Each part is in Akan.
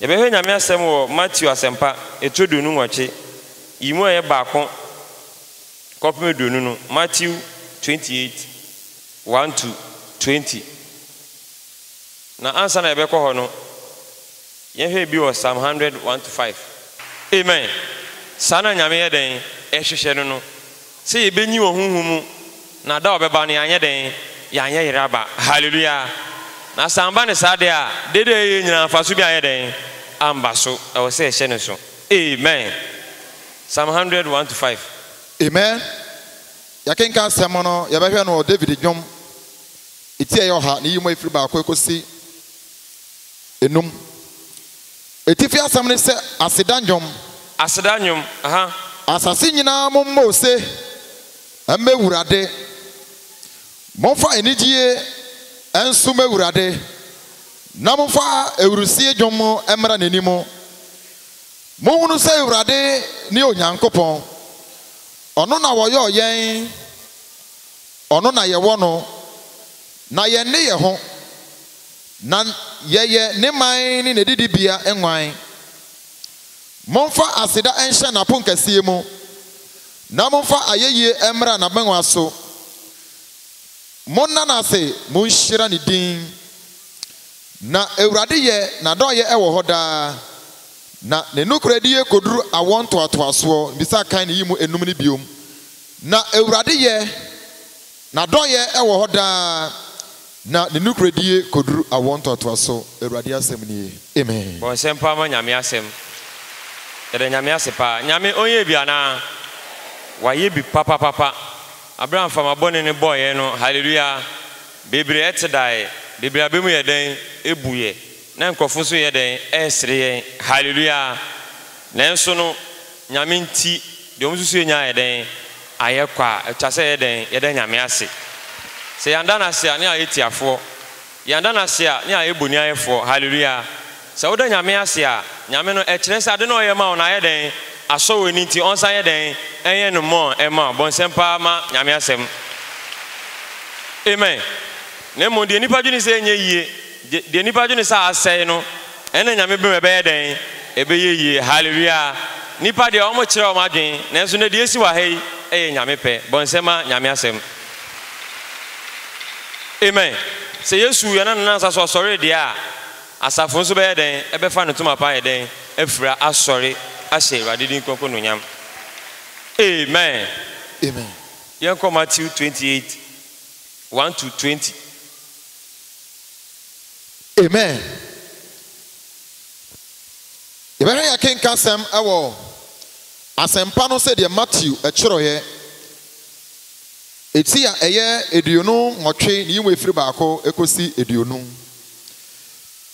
Yɛbɛhwɛ Nyame asɛm wɔ Mateo Asɛmpa etire aduonu nwɔtwe yi mu a ɛyɛ baako kɔpem aduonu no, Matthew twenty eight, one to twenty. Na ansa na yɛbɛkɔ hɔ no, yɛnhwɛ ebi wɔ Psalm hundred, one to five. Amen! Saa na Nyame yɛ dɛn? Ɛhwehwɛ no no. Sɛ yɛbɛnyin wɔ honhom mu, na da a ɔbɛba no yɛanyɛ dɛn? Yɛanyɛ yere aba. Hallelujah! Na sɛ amba no saa deɛ a, dede a yɛyɛ nyinaa mfaso biara anyɛ dɛn? Amba so. Ɛwɔ sɛ yɛhyɛ no nso. Amen! Psalm hundred one to five. Amen! Yɛakenkan asɛm no, yɛbɛhwɛ no wɔ David Dwom eti a ɛyɛ ɔha ne yimu a ɛfiri baako kɔsi nnum. Atifi asɛm ne sɛ aseda nnwom. Aseda nnwom, aha. Asase nyinaa mommɔ ose mmɛ Awurade, momfa anigyie nsom Awurade, na momfa ahurusie dwom mmra n'anim. Monhunu sɛ Awurade ne Onyankopɔn, ɔno na ɔyɔɔ yɛn, ɔno na yɛwɔ no, na yɛnne yɛ ho. Na yɛyɛ ne man ne n'adidibea nguan. Momfa aseda nhyɛ n'aponkɛseɛ mu, na momfa ayɛyie mmra n'abangua so. Monna no ase, monhyira ne din. Na Awurade yɛ, n'adɔeɛ wɔ hɔ daa, na ne nokorɛdie kɔduru awoɔ ntoatoasoɔ. Bisa kan ne yi mu nnum no bio. Na Awurade yɛ, n'adɔeɛ wɔ hɔ daa, Na ne nokorɛdie kɔduru awoɔ ntoatoaso, Awurade asɛm nie. Amen. Bɔ nsɛm paa ma Nyame asɛm. Yɛda Nyame ase paa. Nyame ɔnyɛɛ bi anaa? Wayɛ bi papapapa. Aberɛ a mframa bɔne no bɔeɛ no, hallelujah, bebree te daeɛ, bebree abɛ mu yɛ dɛn? Ɛbuiɛ. Na nkurɔfo nso reyɛ dɛn? Resere yɛn. Haleluia! Nanso no, Nyame nti, deɛ wɔsusuiɛ nyinaa ayɛ dɛn? Ayɛ kwa. Ɛtwa sɛ yɛyɛ dɛn? Yɛda Nyame ase. Sɛ yɛanda no ase a, ne ayɛ tiafoɔ. Yɛanda no ase a, ne ayɛ boniayɛfoɔ. Haleluia! Sɛ woda Nyame ase a, Nyame no, ɛkyerɛ sɛ ade no a ɔyɛ ma wo no, ayɛ dɛn? Asɔ w'ani nti, ɔnsan nyɛ dɛn? Ɛnyɛ no mmɔɔ mma wo. Bɔ nsɛm pa ara ma Nyame asɛm. Amen. Na mmom deɛ nnipa dwene sɛ ɛnyɛ yie. De deɛ nipa dwene sɛ asɛe no ɛna Nyame bem ɛbɛyɛ dɛn? Ɛbɛyɛ yie. Hallelujah! Nipa deɛ wɔn kyerɛ wɔn adwene nanso nnɛ deɛ ɛsi wɔ ha yi ɛyɛ Nyame pɛ. Bɔ nsɛm ma Nyame asɛm. Amen! Sɛ Yesu yɛn anansa so ɔsɔree deɛ a, asafo nso bɛyɛ dɛn? Ɛbɛfa ne ntoma pa ayɛ dɛn? Afira asɔre ahyɛ Awurade din kronkron anuonyam. Amen! Amen! Yɛnkɔ Matthew twenty eight, one to twenty. Amen. Yɛbɛhwɛ yɛkenka sɛm wɔ Asɛmpa no sɛdeɛ Matthew twerɛeɛ, eti a ɛyɛ aduonu nwɔtwe ne yi mu efiri baako kɔsi aduonu.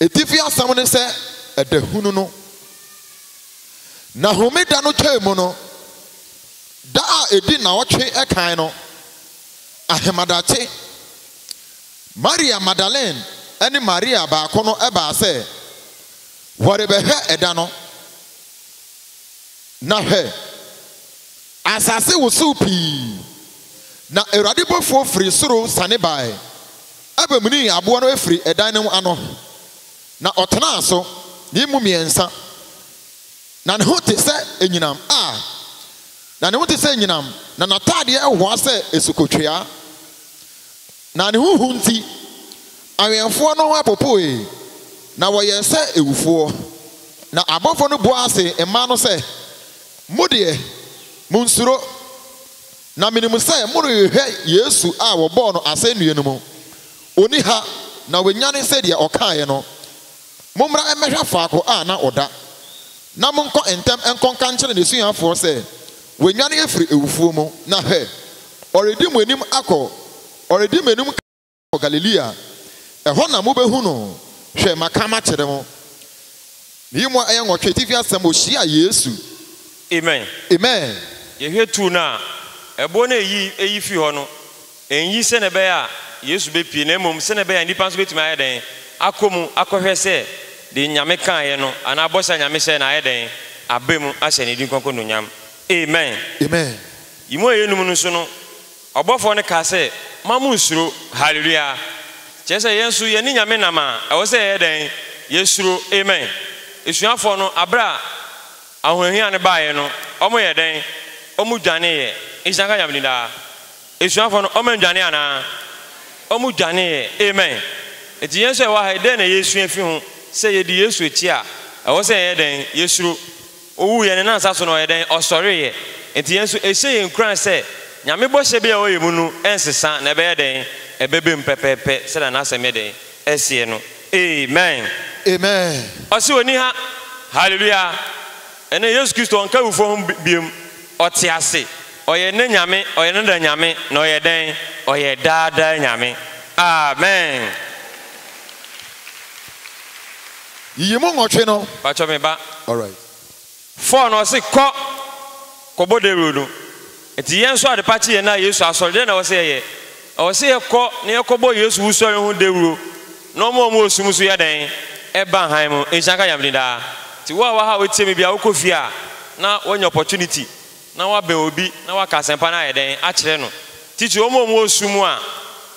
Etifi asɛm ne sɛ ɛdahunu no. Na homeda no twaa mu no, da a ɛdi nnawɔtwe kan no, ahemadakye, Maria Magdalene ne Maria baako no baa sɛ wɔrebɛhwɛ ɛda no, na hwɛ! asase wosow pii, na Awurade bɔfoɔ firi soro siane bae bemunii aboa no firii ɛdan no ano, na ɔtenaa so ne mu mmiɛnsa, na ne ho te sɛ anyinam a na ne ho te sɛ anyinam, na n'ataadeɛ hoa sɛ asukotweaa. Na ne ho hu nti, awɛmfoɔ no ho popoe, na wɔyɛɛ sɛ awufoɔ. Na abɔfoɔ no buaa se mmaa no sɛ, Mo deɛ, monnsuro, na menim sɛ morehwehwɛ Yesu a wɔbɔɔ no asɛnnua no mu. Ɔnni ha, na wanyane sɛdeɛ ɔkaeɛ no. Mommra mmɛhwɛ faako a na ɔda, na monkɔ ntɛm nkɔka nkyerɛ n'asuafoɔ sɛ, 'Wanyane afiri awufoɔ mu, na hwɛ! ɔredi mo anim akɔ, ɔredi m'anom kan akɔ Galilea. Ɛhɔ na mobɛhu no. Hwɛ, maka makyerɛ mo. Meyi mu a ɛyɛ nwɔtwe atifi asɛm, Wɔhyiaa Yesu. Amen. Amen. Yɛhwɛ tuo no a ɛboɔ no a ɛyi ɛyi firi hɔ no. Ennye sɛnea ɛbɛyɛ a Yesu bepue, na mmom sɛnea ɛbɛyɛ a nnipa nso betumi ayɛ dɛn? Akɔ mu akɔhwɛ sɛ deɛ Nyame kaeɛ no, anaa bɔhyɛ a Nyame hyɛɛ no ayɛ dɛn? Aba mu ahyɛ Ne din kronkron anuonyam. Amen. Amen. Yi mu a ɛyɛ num no so no, ɔbɔfoɔ no kaa sɛ, Mma mo nsuro. Hallelujah! Kyerɛ sɛ, yɛn nso yɛne Nyame nam a, ɛwɔ sɛ yɛyɛ dɛn? Yɛsuro. Amen. Asuafoɔ no, aberɛ a ahohiahia no baeɛ no, wɔyɛɛ dɛn? Wɔdwaneeɛ. Nhyira nka Nyame din daa. Asuafoɔ no, wɔannwane anaa? Wɔdwaneeɛ. Amen. Enti yɛn nso a yɛwɔ ha yi, dɛn na yɛresua afiri ho? Sɛ yɛdi Yesu akyi a, ɛwɔ sɛ yɛyɛ dɛn? Yɛsuro. Ɔwuiɛ no, Ne nsa so na ɔyɛɛ dɛn? Ɔsɔreeɛ. Enti yɛn nso, ɛhyɛ yɛn nkuran sɛ Nyame bɔhyɛ bi a ɛwɔ yɛn mu no rensesa, na ɛbɛyɛ dɛn? Ɛbɛba mu pɛpɛɛpɛ sɛdeɛ N'asɛm yɛ dɛn? Ɛseɛ no. Amen. Amen. Ɔse ɔnni ha. Hallelujah. Ɛnnɛ Yesu Kristo ɔnka awufoɔ ho bio. Ɔte ase. Ɔyɛ nnɛ Nyame, ɔyɛ no da Nyame, na ɔyɛ dɛn? Ɔyɛ daa daa Nyame. Amen! Yiyi mu nwɔtwe no. Pakyɛ me ba. Alright. Four no ɔse kɔ kɔbɔ dawuro no. Enti yɛn nso adepa kye yɛn a Yesu asɔre, dɛn na ɛwɔ sɛ yɛyɛ? Ɛwɔ sɛ yɛkɔ na yɛkɔbɔ Yesu wusɔre ho dawuro na wɔn a wɔwɔ sum nso yɛ dɛn? Ɛba hann mu. Nhyira nka Nyame din daa. Nti wo a wɔ ha a wotie me biara wokɔ fie a na woanya opportunity na woabɛn obi na woaka asɛmpa no ayɛ dɛn? Akyerɛ no. Titi wɔn a wɔwɔ sum a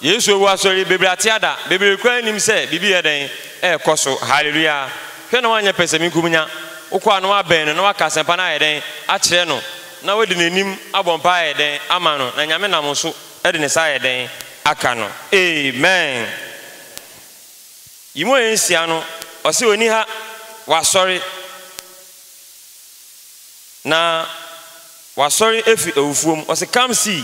Yesu awu asɔre yi bebree ate ada, bebree koraa nnim sɛ biribi reyɛ dɛn? Ɛrekɔ so. Hallelua. Hwɛ na woanyɛ pɛsɛmenkominya. Wokɔ a na woabɛn no na woaka asɛmpa no ayɛ dɛn? Akyerɛ no. na ɔde n'anim abɔ mpae ayɛ dɛn ama no, na Nyame nam wo so de ne sa ayɛ dɛn aka no. Amen. Yi mu ɔyɛ nsia no, ɔse ɔni ha, wasɔre, na wasɔre afiri awufoɔ mu, ɔse come see.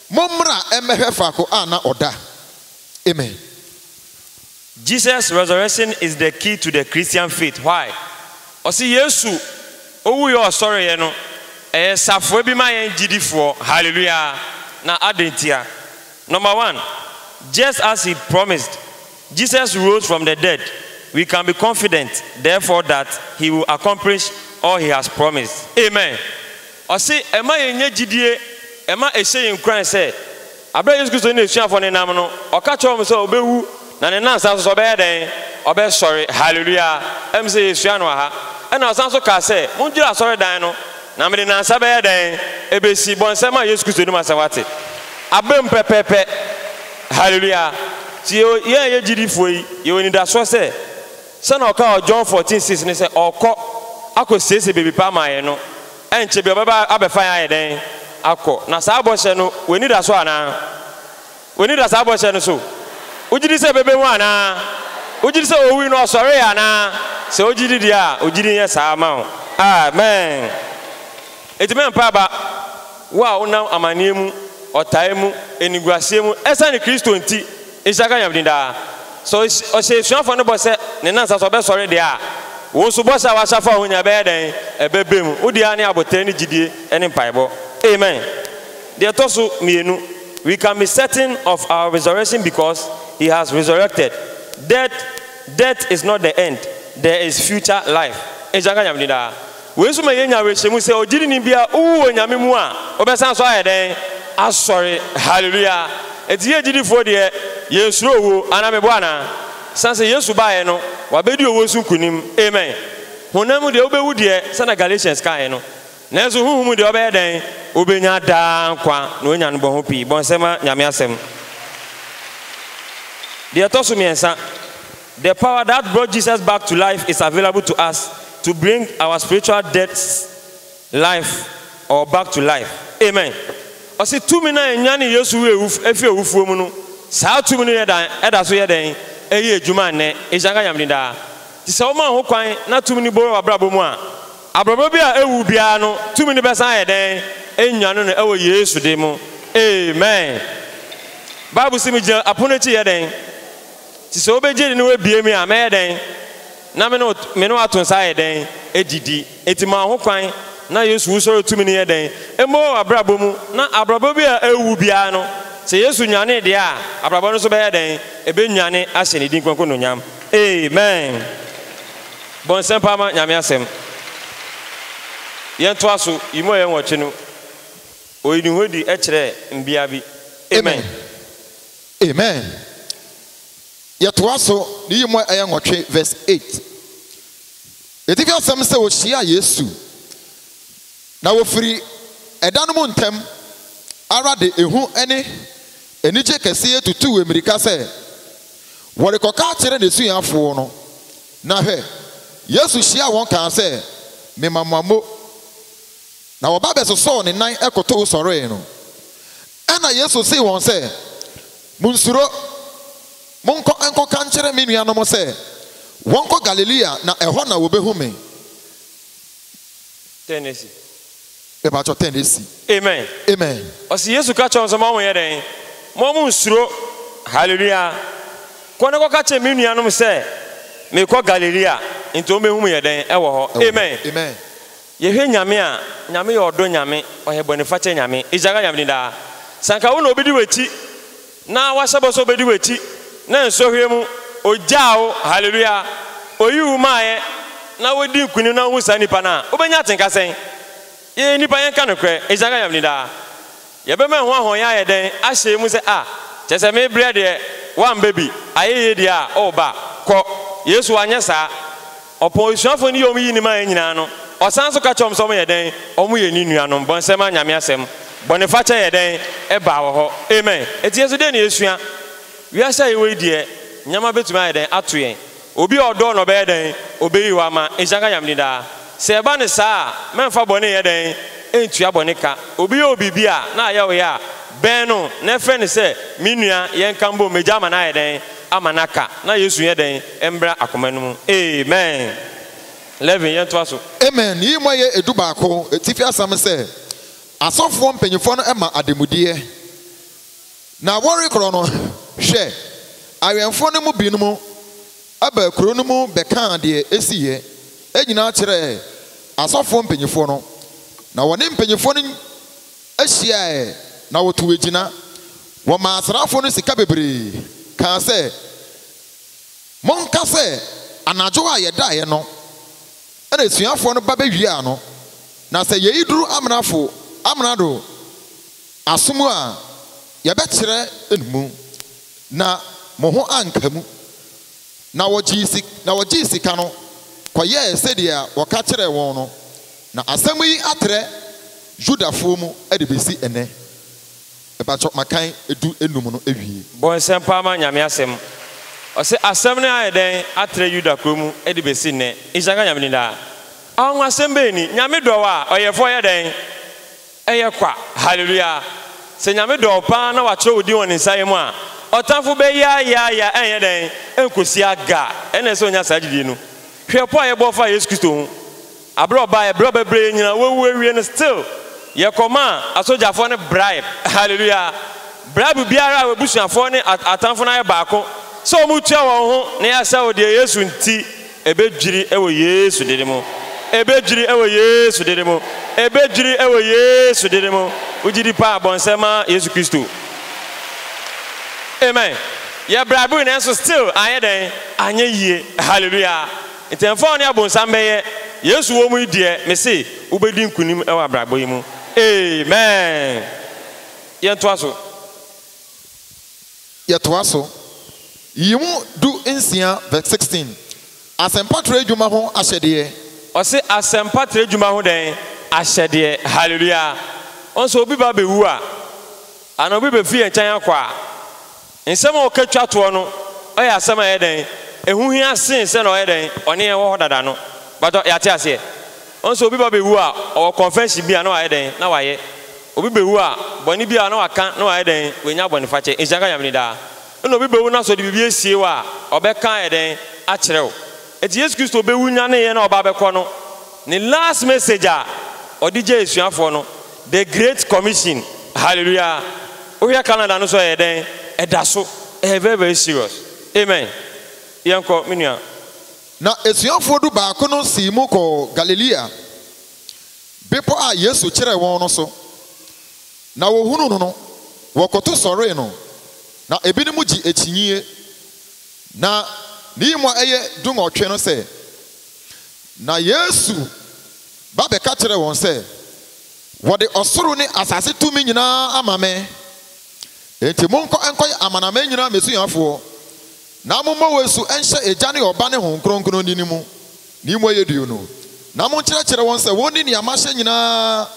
Mommra mmɛhwɛ faako a na ɔda. Amen. Jesus resurrection is the key to the Christian faith why? Ɔse Yesu owuiɛ ɔsɔreɛ no ɛyɛ safoa bi ma yɛn gyidifoɔ hallelujah na adɛn ntia? Number one, just as he promised. Jesus rose from the dead, we can be confident therefore that He will accomplish all He has promised. Amen. Ɔse ɛma yɛnya gyidie, ɛma ɛhyɛ yɛn nkuran sɛ aberɛ a Yesu Kristo ne N'asuafoɔ no nam no, Ɔka kyerɛɛ wɔn sɛ Ɔbɛwu na Ne nnansa so nso Ɔbɛyɛ dɛn? Ɔbɛsɔre. Hallelujah! Ɛyɛ me sɛ yɛsua no wɔ ha. Ɛna Ɔsan nso kaa sɛ, Mondwiri asɔredan no, na mede nnansa bɛyɛ dɛn? Ɛbɛsi. Bɔ nsɛm a Yesu Kristo nim asɛm wate. Abam pɛpɛpɛ. Halleluya! So yɛn a yɛyɛ gyidifo yi, yɛwɔ anidaso sɛ sɛnea ɔkaa wɔ John fourteen six no sɛ ɔrekɔ akosiesie baabi pa ama yɛn no, ɛnkyɛ biara ɔbɛba abɛfa yɛn ayɛ dɛn? Akɔ. Na saa bɔhyɛ no, w'ani da so anaa? W'ani da saa bɔhyɛ no so? Wogye di sɛ ɛbɛba mu anaa? Wogye di sɛ owui no, ɔsɔree anaa? Sɛ wogye di deɛ a, wo gyidi nyɛ saa mma wo. Amen. Ɛtumi ampa aba, wo a wonam amaneɛ mu, ɔtaeɛ mu, animguaseɛ mu, ɛsiane Kristo nti, nhyira nka Nyame din daa. Sɛ ɔhyɛ asuafoɔ no bɔ sɛ ne nnansa so ɔbɛsɔre deɛ a, wo nso bɔhyɛ a woahyɛ afa wo ho nyinaa bɛyɛ dɛn? Ɛbɛbam. Wo deɛ ara ne aboterɛ ne gyidie ne mpaebɔ. Amen. Deɛ ɛtɔ so mmienu, We can be certain of our resurrection because He has resurrected. Dead, death is not the end, there is future life. Nhyira nka Nyame din daa. Wei nso ma yenya awerɛhyɛmu sɛ ogyidini biara owu wɔ Nyame mu a, ɔbɛsan so ayɛ dɛn? Asɔre. Hallelujah! Enti yɛn gyidifo deɛ, yɛnsuro owuo. Anaa meboa anaa? Sane sɛ Yesu baeɛ no, Wabɛdi owuo so nkonim. Amen! Honam mu deɛ, wobɛwu deɛ, sɛdeɛ Galatians kaeɛ no, nanso honhom mu deɛ, wobɛyɛ dɛn? Wobɛnya daa nkwa, na woanya no bɔho pii. Bɔ nsɛmma Nyame asɛm. Deɛ ɛtɔ so mmiɛnsa, The power that brought Jesus back to life is available to us to bring our spiritual dead life or back to life. Amen. Ɔse tumi no a ɛnyanee Yesu firi awufoɔ mu no, saa tumi no ɛda so yɛ dɛn ɛyɛ adwuma nnɛ? Nhyira nka Nyame din daa. Nti sɛ woma ho kwan na tumi no bɔ w'abrabɔ mu a, abrɔbɔ bi a ɛwu biara no, tumi no bɛsan ayɛ dɛn? Anyane no ɛwɔ Yesu din mu. Amen. Bible se megyina apono akyi yɛ dɛn? Nti sɛ wobɛgye ne ne wabue me a, mɛyɛ dɛn? Na me ne wo, me ne wo ato nsa ayɛ dɛn? Gyidi. Nti maa ho kwan, na Yesu wusɔre tumi no yɛ dɛn? Mmɔ wɔ w'abrabɔ mu. Na abrabɔ bi a ɛwu biara no, sɛ Yesu nyanee deɛ a, abrabɔ no nso bɛyɛ dɛn? Ɛbɛnyane ahyɛ ne din kronkron anuonyam. Amen. Bɔ nsɛmpa ma Nyame asɛm. Yɛntoa so, yi mu a ɛyɛ nwɔtwe no, oyi ne ho adi kyerɛ mbea bi. Amen. Amen Yɛtoa so, ne yi mu ɛyɛ nwɔtwe vs eight. Atifi asɛm sɛ wɔhyiaa Yesu na wɔfiri ɛda no mu ntɛm ara de ehu ne anigye kɛseɛ tutuu ammirika sɛ wɔrekɔka akyerɛ n'asuafoɔ no. Na hwɛ! Yesu hyiaa wɔn kaa sɛ, Mema mo ammo. Na wɔba bɛsosɔɔ ne nan kotoo sɔree no. Ɛnna Yesu see wɔn sɛ, Munnsuro. Monkɔ nkɔka nkyerɛ me nuanom sɛ wɔnkɔ Galilea na ɛhɔ na wɔbɛhu me. Ten asi. Mepakyɛw, ten asi. Amen. Amen. Ɔse Yesu ka kyerɛɛ wɔn sɛ, Mo a monyɛ dɛn? Mo a monnsuro. Hallelujah. Kɔ na kɔka kyerɛ me nuanom sɛ merekɔ Galilea, nti wɔbɛhu me yɛ dɛn? Ɛwɔ hɔ. Amen. Amen. Yɛhwɛ Nyame a, Nyame yɛ ɔdɔ Nyame, ɔyɛ bɔnefakyɛ Nyame, Egyagya Nyame din daa. Sɛ anka wo na obi di w'akyi, na wahyɛ bɔ sɛ obedi w'akyi, na nsɔhwɛ mu, ogyaa wo, Hallelua, oyii wo maaeɛ, na wodi nkunim na wohu saa nipa no a, wobɛnya atenka sɛn? Yɛyɛ nnipa, yɛnka nokorɛ, Egyagya Nyame din daa. Yɛbɛma ɛho ahɔnyɛ ayɛ dɛn? Ahyɛ mu sɛ, Ah, kyerɛ sɛ mebrɛ deɛ, woamba bi, ayɛyie deɛ a, oh, ba, kɔ. Yesu wanyɛ saa. Ɔpɔn asuafoɔ no yii wɔn yinim ayɛ nyinaa no, ɔsan nso ka kyerɛɛ wɔn sɛ wɔyɛ dɛn? Wɔyɛ ne nuanom. Bɔnsɛm a Nyame asɛm, bɔnefakyɛ yɛ dɛn? Ɛbaa wɔ hɔ. Amen. Enti yɛn nso dɛn na yɛsua? Wiase a yɛwɔ yi deɛ, nneɛma bɛtumi ayɛ dɛn? Ato yɛn. Obi a ɔdɔ wo no ɔbɛyɛ dɛn? Obeyi hɔ ama. Nhyira nka Nyame din daa. Sɛ ɛba no saa a, mɛmfa bɔne nyɛ dɛn? Ntua bɔne ka. Obi yɛ wo biribi a na ayɛ wo ya a, bɛn no na ɛfrɛ no sɛ, Me nua, yɛnka mbom megyaa ma no ayɛ dɛn? Ama no aka. Na Yesu nyɛ dɛn? Mbra akoma no mu. Amen. Levin, yɛntoa so. Amen. Yiyi mu ɛyɛ edu baako. Atifi asɛm sɛ, Asɔfoɔ mpanyinfoɔ no ma ademudeɛ. Na wɔrekorɔ no, hwɛ! awɛmfoɔ no mu binom baa kuro no mu bɛkaa deɛ ɛsiiɛ nyinaa kyerɛɛ asɔfoɔ mpanimfoɔ no, na wɔne mpanimfoɔ no hyiaaɛ, na wɔtuu agyina. Wɔmaa asraafoɔ no sika bebree, kaa sɛ, Monka sɛ anadwo a yɛdaeɛ no na asuafoɔ no ba bɛwiaa no, na sɛ yei duru amrafo, amrado, Aso mu a yɛbɛkyerɛ nmu na mo ho anka mu. Na wɔgyee sika no kɔyɛɛ sɛdeɛ wɔka kyerɛɛ wɔn no, na asɛm yi atrɛ Yudafoɔ mu de bɛsi ɛnnɛ. Mpakyɛ makan du nnum no awie. Bɔnsɛm paa ma Nyame asɛm. Ɔse asɛm no ayɛ dɛn atrɛ Yuda kuro mu de bɛsi nnɛ. Nhyira nka Nyame din daa. Anwanwasɛm bɛn ni? Nyame dɔ wo a, Ɔyɛfoɔ yɛ dɛn? Ɛyɛ kwa! Haleluya! Sɛ Nyame dɔ wo paa na wakyerɛw wo din wɔ Ne nsa yam a, ɔtamfo bɛyaayaaya ɛnyɛ dɛn? Ɛnkosi aga! Ɛnna ɛsɛ sɛ onya saa gyidie no. Hwɛ ɔpɔ a yɛbɔɔ faa Yesu Kristo ho. Aberɛ a ɔbaeɛ, berɛ a ɔbɛbrɛ yɛn nyinaa, wawu awie no, still yɛkɔmaa asogyafoɔ no bribe. Haleluya! Bribe biara a w'abusuafoɔ ne atamfo no ayɛ baako sɛ wɔretua wɔn ho na yɛasɛe wo deɛ, Yesu nti, Ebedwiri wɔ Yesu dini mu. Ebedwiri wɔ Yesu dini mu. Ebedwiri wɔ Yesu dini mu. Wo gyidi paa bɔ nsɛm ma Yesu Kristo. Amen. Yɛ brabere nanso still anyɛ dɛn? Anyɛ yie. Hallelujah. Nti ɛmfa wo ne abonsam bɛyɛ. Yesu wɔ mu yi deɛ me se wo bɛdi nkunim wɔ abrabɔ yi mu. Amen. Yɛntoa so. Yɛtoa so. Yi mu du nsia vs sixteen, Asɛmpatrɛ Adwuma ho Ahyɛdeɛ. Ɔse asɛmpatrɛ adwuma ho dɛn? Ahyɛdeɛ. Hallelujah. Woahu sɛ obi ba bɛwu a, anaa obi bɛfiri yɛn nkyɛn akɔ a, nsɛm a ɔka twa toɔ no, ɔyɛ asɛm a ɛyɛ dɛn? Ɛho hia sene sɛ na ɔyɛ dɛn? Ɔne yɛn wɔ hɔ dada no. Mpakyɛ yɛate aseɛ? Wo nso obi ba bewu a, ɔwɔ confession bi a na wayɛ dɛn? Na wayɛ. Obi bewu a, bɔne bi a na waka na wayɛ dɛn? Wanya bɔnefakyɛ. Nhyira nka Nyame no daa. Nna obi bewu na sɛ ɔde biribi asie wo a, ɔbɛka ayɛ dɛn? Akyerɛ wo. Enti Yesu Kristo bewu nyaneeɛ na ɔba abɛkɔ no, Ne last message a ɔde gyee asuafoɔ no, the great commission. Hallelujah! Wohwɛ calendar no nso a ɛyɛ dɛn? Ɛda so. Ɛyɛ very very serious. Amen. Yɛnkɔ, me nua. Na asuafoɔ dubaako no sii mu kɔɔ Galilea bepɔ a Yesu kyerɛɛ wɔn no so, na wɔhunuu no no, wɔkoto sɔree no, na ebinom gye akyinnyeɛ. Na ne yi mu a ɛyɛ dunwɔtwe no sɛ, na Yesu ba bɛka kyerɛɛ wɔn sɛ, Wɔde ɔsoro ne asase tumi nyina ara ama me, enti monkɔ nkɔyɛ amanaman nyina ara m'asuafoɔ, Na momma wɔasu nhyɛ Agya ne Ɔba ne Honhom Kronkron din mu, ne mu ɛyɛ duu no, na monkyerɛkyerɛ wɔn sɛ wɔnni nea mahyɛ nyinaa.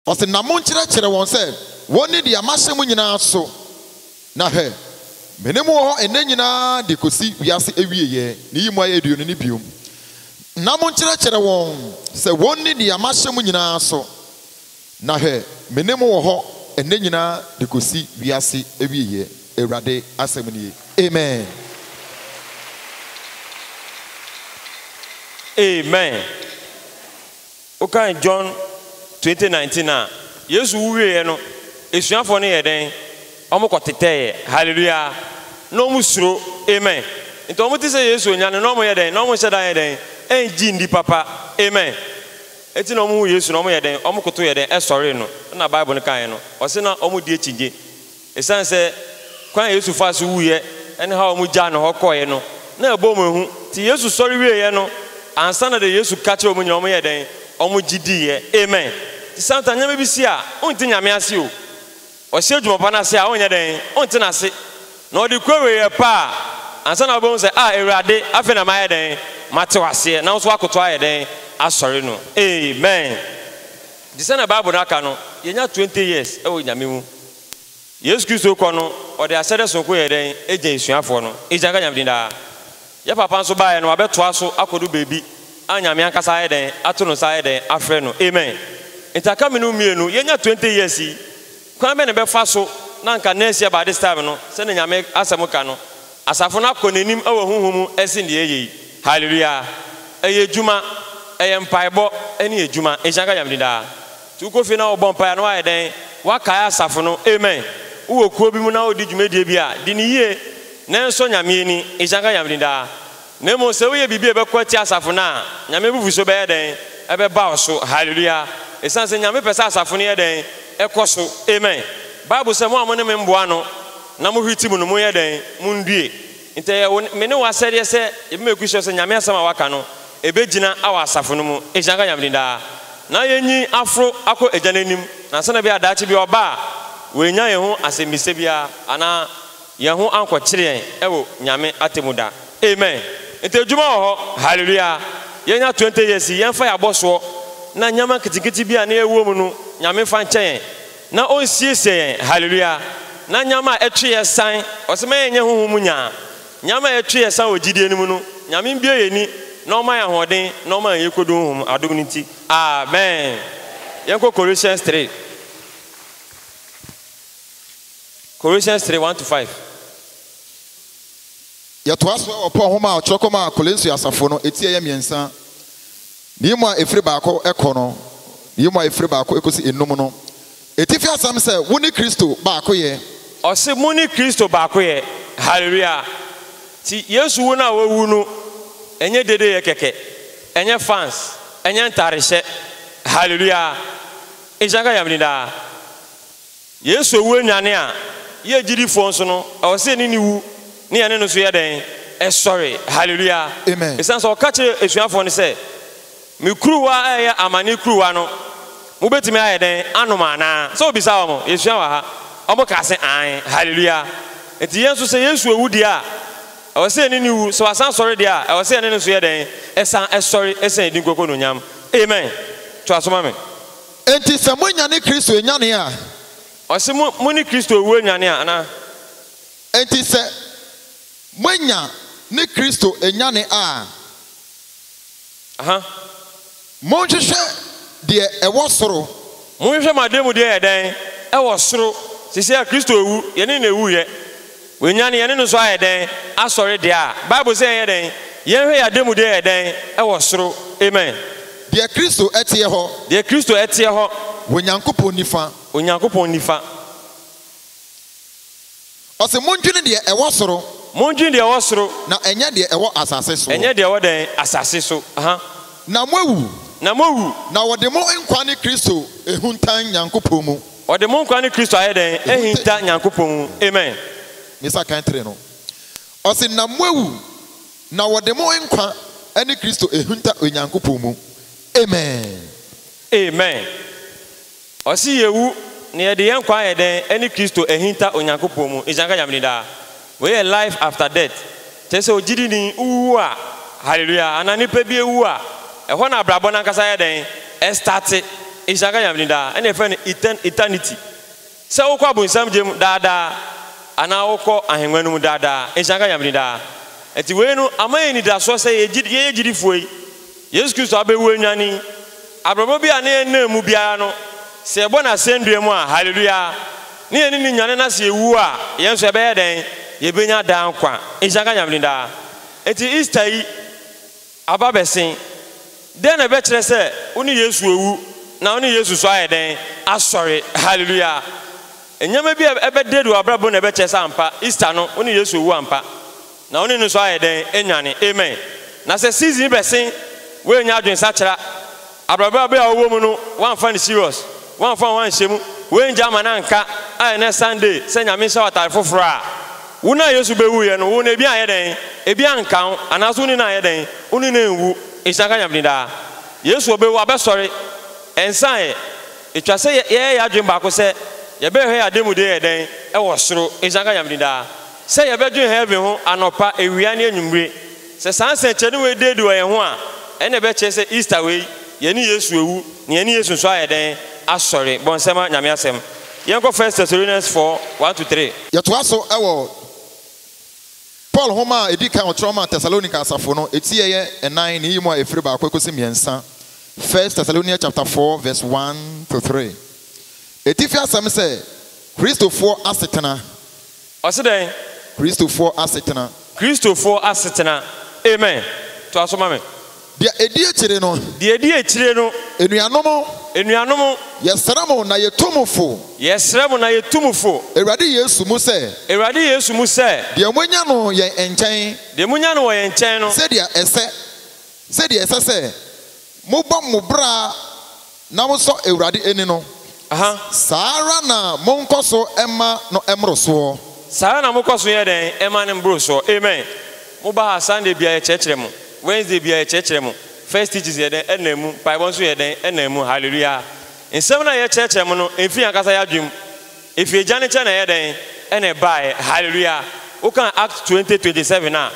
Ɔse, na monkyerɛkyerɛ wɔn sɛ wɔnni deɛ mahyɛ mo nyinaa so, na hwɛ, me ne mo wɔ hɔ ɛnnɛ nyinaa de kɔsi wiase awieɛ, ne yi mu ayɛ duu no, ne bio, na monkyerɛkyerɛ wɔn sɛ wɔnni deɛ mahyɛ mo nyinaa so. Na hwɛ, me ne mo wɔ hɔ ɛnnɛ nyinaa de kɔsi wiase awieɛ, Awurade asɛm nie. Amen. Amen. Wokan John twenty nineteen a, Yesu wu wieɛ no, asuafoɔ no yɛɛ dɛn? Wɔkɔ tetɛeɛ. Hallelujah. Na wɔn suro. Amen. Nti wɔn te sɛ Yesu ɔnya no, na wɔn yɛ dɛn? Na wɔn nhyɛ da nyɛ dɛn? Ɛngye nni papa. Amen. Enti na wɔhu Yesu na wɔyɛ dɛn? Wɔkotow yɛ dɛn? Sɔree no. Ɛnna Bible no kae no. Ɔse na wɔdi akyinnye. Esiane sɛ kwan a Yesu faa so wuiɛ ne haw a wɔgyaa no hɔ kɔeɛ no, na ɛbɔ wɔn hu. Enti Yesu sɔre wieeɛ no, ansa na deɛ Yesu ka kyerɛɛ wɔn nyinaa, wɔyɛɛ dɛn? Wɔgye diiɛ. Amen. Enti sometimes nneɛma bi si a, wonte Nyame ase o. Ɔhyɛ adwuma pa no ase a, ɔnyɛ dɛn? Ɔnte no ase. Na ɔde kura wei yɛ pɛ a, ansa na wobɛhu sɛ, Ah, Awurade, afei na mayɛ dɛn? Mate wo aseɛ, na wo nso woakoto ayɛ dɛn? Asɔre no. Amen. Nti sɛdeɛ Bible no aka no, yɛnya twenty years wɔ Nyame mu. Yesu Kristo rekɔ no, ɔde ahyɛde sononko yɛɛ dɛn? Gyaa asuafoɔ no. Nhyira nka Nyame din daa. Yɛ papa nso baeɛ no wabɛtoa so akɔdu baabi a Nyame ankasa ayɛ dɛn ato no nsa ayɛ dɛn afrɛ no amen nti aka me no mmienu yɛnya twenty years yi kwan bɛn na ɛbɛfa so na anka next year by this time no sɛdeɛ Nyame asɛm ka no asafo no akɔ nanim wɔ honhom mu ɛsen deɛ ɛyɛ yi hallelujah ɛyɛ adwuma ɛyɛ mpaebɔ ɛne adwuma nhyira nka Nyame din daa. Nti wokɔ fie na wobɔ mpaeɛ a na woayɛ dɛn? Woakae asafo no. Amen. Wowɔ kuo bi mu na woredi dwumadie bi a, di no yie na nsɔ Nyame ani. Nhyira nka Nyame din daa. Na mmom sɛ woyɛ biribi a ɛbɛko atia asafo no a, Nyame abufuhyeɛ bɛyɛ dɛn? Ɛbɛba wo so. Hallelujah. Ɛsiane sɛ Nyame pɛ sɛ asafo no yɛ dɛn? Ɛkɔ so. Amen. Bible sɛ, Mo a mo ne me mboa ano na mo hwete mu no, monyɛ dɛn? Mondue. Nti ɛyɛ wo, me ne wo asɛdeɛ sɛ yɛbɛma ɛkusi hɔ sɛ Nyame asɛm a waka no, Ebegyina awɔ asafo no mu, ehyira nka Nyame din daa, na yenyi aforo akɔ Egya no anim, na sɛnea ɛbɛyɛ a daakye bi Ɔba a, oennya yɛn ho asɛmbisa biara, anaa yɛn ho annkɔkyere yɛn wɔ Nyame atemmu da. Amen! Ntsi edwuma wɔ hɔ! Hallelua! Yɛnya twenty years yi, yɛmfa yɛn abɔsoɔ na nneɛma nketsenketse bi a na yɛwɔ mu no, Nyame mfa nkyɛ yɛn, na Onsiesie yɛn, hallelua, na nneɛma a ɛtwe yɛn san, Ɔse ma yɛnyɛ honhom mu nyaa, Nyame a yɛtwe yɛn san wɔ gyidie no mu no, Nyame mbue yɛn ani na ɔma yɛn ahoɔden na ɔma yɛn yɛkɔdu honhom adom no nti. Amen. Yɛnkɔ Colossians three. Colossians three, one to five. Yɛtoa so wɔ Paul nhoma a ɔtwerɛ kɔmaa Kolosio asafo no, eti a ɛyɛ mmiɛnsa, ne mu a ɛfiri baako kɔ no, ne mu a ɛfiri baako kɔsi enum no. Atifi asɛm sɛ wo ne Kristo baakoyɛ. Ɔse mo ne Kristo baakoyɛ, hallelujah. Nti Yesu wu no a wawu no ɛnyɛ dedeyɛ kɛkɛ, ɛnyɛ fans, ɛnyɛ ntarehyɛ, hallelujah. Nhyira nka Nyame din daa. Yesu awu anyane a, yɛ agyidifoɔ nso no ɛwɔ sɛ yɛne no wu na yɛne no nso yɛ dɛn? Sɔre, hallelujah. Amen. Esiane sɛ ɔka kyerɛɛ asuafoɔ no sɛ. Me kuruwa a ɛyɛ amane kuruwa no, mobɛtumi ayɛ dɛn anom anaa? Sɛ wobisaa wɔn, yɛsua wɔ ha, wɔkaa se, Aane. Hallelujah! Enti yɛn nso, sɛ Yesu awu deɛ a, ɛwɔ sɛ yɛne no wu, sɛ Wasan asɔre deɛ a, ɛwɔ sɛ yɛne no nso yɛ dɛn? Ɛsan sɔre, ɛsɛ Ne din nkoako anuonyam. Amen! Toa so ma me. Enti sɛ moanyane Kristo anyane a. Ɔse mo, mo ne Kristo awu anyane a, anaa? Enti sɛ moanya ne Kristo anyane a. Monhwehwɛ deɛ ɛwɔ soro. Monhwehwɛ mo ademudeɛ yɛ dɛn wɔ soro. Seesei a Kristo awu, yɛne no na ɛwuiɛ. Wanyane, yɛne no nso ayɛ dɛn? Asɔre. Deɛ a Bible se yɛnyɛ dɛn? Yɛnhwɛ yɛn ademudeɛ yɛ dɛn wɔ soro. Amen. Deɛ Kristo teɛ hɔ. Deɛ Kristo teɛ hɔ. Wɔ Nyankopɔn nifa. Onyankopɔn nifa. Ɔse mondwene deɛ ɛwɔ soro. Mondwene deɛ ɛwɔ soro. Na ɛnyɛ deɛ ɛwɔ asase soɔ. Ɛnyɛ deɛ ɛwɔ dɛn? Asase so, aha. Na moawu. Na moawu. Na wɔde mo nkwa ne Kristo ahuntan Nyankopɔn mu. Wɔde mo nkwa ne Kristo ayɛ dɛn? Ahinta Nyankopɔn mu. Amen. Mesa kan three no. Ɔse na moawu. Na wɔde mo nkwa ne Kristo ahunta Onyankopɔn mu. Amen. Amen. Ɔse yɛwu na yɛde yɛn nkwa ayɛ dɛn ɛne Kristo ahinta Onyankopɔn mu nhyira nka Nyame din daa. Wei yɛ life after death kyerɛ sɛ ogyidini wowu a hallelujah anaa nipa bi awu a ɛhɔ na abrabɔ no ankasa yɛ dɛn ɛstate nhyira nka Nyame din daa ɛna yɛfrɛ no etern eternity sɛ wokɔ abonsam gya mu daa daa anaa wokɔ ahenwa no mu daa daa nhyira nka Nyame din daa ɛnti wei no ama yɛn anidasoɔ sɛ yɛyɛ gyidifoɔ yi Yesu Kristo abewu anyan yi, abrabɔ bi a na yɛnnam mu biara no, sɛ yɛbɔ no asɛndua mu a, haleluya, na yɛne no nyane na sɛ yɛwu a, yɛn nso yɛbɛyɛ dɛn? Yɛbɛnya daa nkwa. Nhyira nka Nyame din daa. Enti Easter yi aba bɛsen. Dɛn na ɛbɛkyerɛ sɛ wo ne Yesu awu na wo ne Yesu nso ayɛ dɛn? Asɔre. Haleluya. Nneɛma bi a ɛbɛdɛdɛ w'abrabɔ mu na ɛbɛkyerɛ sɛ ampa Easter no wo ne Yesu awu ampa. Na wo ne no nso ayɛ dɛn anyane. Amen. Na sɛ season yi bɛsen, woannya adwensakyera, abrabɔ bere a wowɔ mu no woamfa no serious, woamfa wo ho anhyɛ mu, woangye amma no anka, a ɛnnɛ Sunday sɛ Nyame nhyɛ wo atade foforo a, wo no a Yesu bewuiɛ no, wo no ebi anyɛ dɛn? Ebi anka wo, anaasɛ wo ne no anyɛ dɛn? Wo ne no anwu. Nhyira nka Nyame din daa. Yesu ɔbewu, wabɛsɔre. Ɛnsan ɛ. Etwa sɛ yɛyɛ yɛn adwene baako sɛ yɛbɛhwɛ yɛn ademude yɛ dɛn wɔ soro. Nhyira nka Nyame din daa. Sɛ yɛbɛdwen heaven ho anɔpa, awia ne anwummere. Sɛ saa nsɛnkyerɛnne wei da adi wɔ yɛn ho a, ɛnna ɛbɛkyerɛ sɛ Easter wei, yɛne Yesu awu, na yɛne Yesu nso ayɛ dɛn? asɔre. Bɔ nsɛmma Nyame Asɛm. Yɛnkɔ First Thessalonians four, one to three. Yɛtoa so wɔ Paul nhoma a edi kan a ɔkyerɛw maa Thessalonica asafo no, eti a ɛyɛ nnan ne eyi mu a efiri baako ekosi mmiɛnsa, First Thessalonians chapter four verse one to three. Atifi asɛm sɛ, Kristofoɔ asetena. Ɔse dɛn? Kristofoɔ asetena. Kristofoɔ asetena. Amen. Toa so ma me. Deɛ ɛdi akyire no. Deɛ ɛdi akyire no. Anuanom. Anuanom. Yɛsrɛ mo na yɛtu mo fo. Yɛsrɛ mo na yɛtu mo fo. Awurade Yesu mu sɛ. Awurade Yesu mu sɛ. Deɛ moanya no yɛn nkyɛn. Deɛ moanya no wɔ yɛn nkyɛn no. Sɛdeɛ ɛsɛ. Sɛdeɛ ɛsɛ sɛ. Mobɔ mo bra. na mosɔ Awurade ani no, saa ara na monkɔ so mma no mmoro soɔ. Saa ara na mokɔ so yɛ dɛn ɛma no mboro soɔ. Amen. Mo ba ha Sunday biara yɛ kyerɛkyerɛ mo, Wednesday biara yɛ kyerɛkyerɛ mo, First Teachings yɛ dɛn ɛnam mu, mpaebɔ nso yɛ dɛn ɛnam mu. Hallelujah. Nsɛm no a yɛ kyerɛkyerɛ mo no ɛmfiri yɛn ankasa yɛ adwene mu, ɛfiri Agya no nkyɛn na ɛyɛ dɛn ɛna ɛbaeɛ. Hallelujah. Wo kaa Acts twenty twenty seven a.